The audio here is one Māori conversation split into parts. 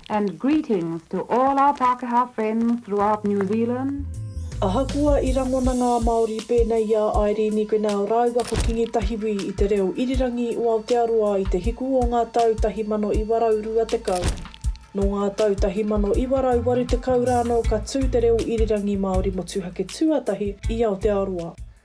And greetings to all our Pākehā friends throughout New Zealand. Ahakoa i rangona ngā Māori pēnei i a Airīni Grenell rāua ko Kingi Tahiwi i te reo irirangi o Aotearoa i te hiku o ngā tau 1920, nō ngā tau 1980 rānō ka tū te reo irirangi Māori motuhake tuatahi i Aotearoa.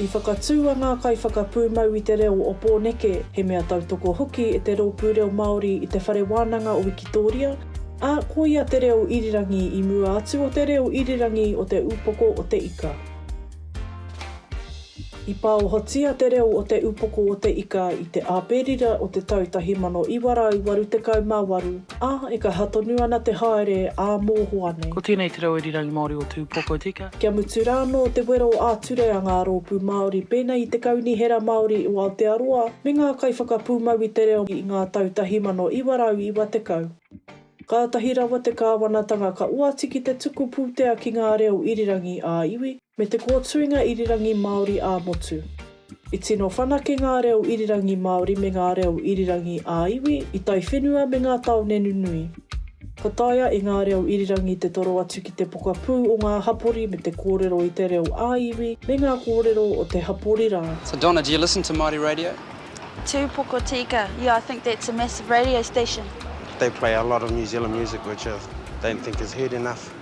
I whakatū a ngā kaiwhakapūmau i te reo o Pōneke, he mea tautoko hoki e te Rōpū Reo Māori i te Whare Wānanga o Wikitōria, ā, ko ia te reo irirangi i mua atu o te reo irirangi o te Upoko o te Ika. I pāohotia te reo o te Upoko o te Ika i te Āperira o te tau 1988, A, e kaha tonu ana te haere a mohoa nei. Ko tēnei te reo irirangi Māori o Tūpoko tika. Kia mutu rānō te wero ā-ture a ngā rōpū Māori pēnei i te Kaunihera Māori o Aotearoa me ngā kaiwhakapūmau i te reo i ngā tau 1990, kātahi rawa te kāwanatanga ka oati ki te tuku pūtea ki ngā reo irirangi ā-iwi, Me te kōtuinga irirangi Māori ā-motu. I tino whanake ngā reo irirangi Māori me ngā reo irirangi ā-iwi i taiwhenua me ngā tāone nunui. Ka taea e ngā reo irirangi te toro atu ki te pokapū o ngā hapori me te kōrero i te reo ā-iwi me ngā kōrero o te hapori rā. So Donna do you listen to Māori radio? Tū Pokotika, yeah I think that's a massive radio station. They play a lot of New Zealand music which I don't think is heard enough.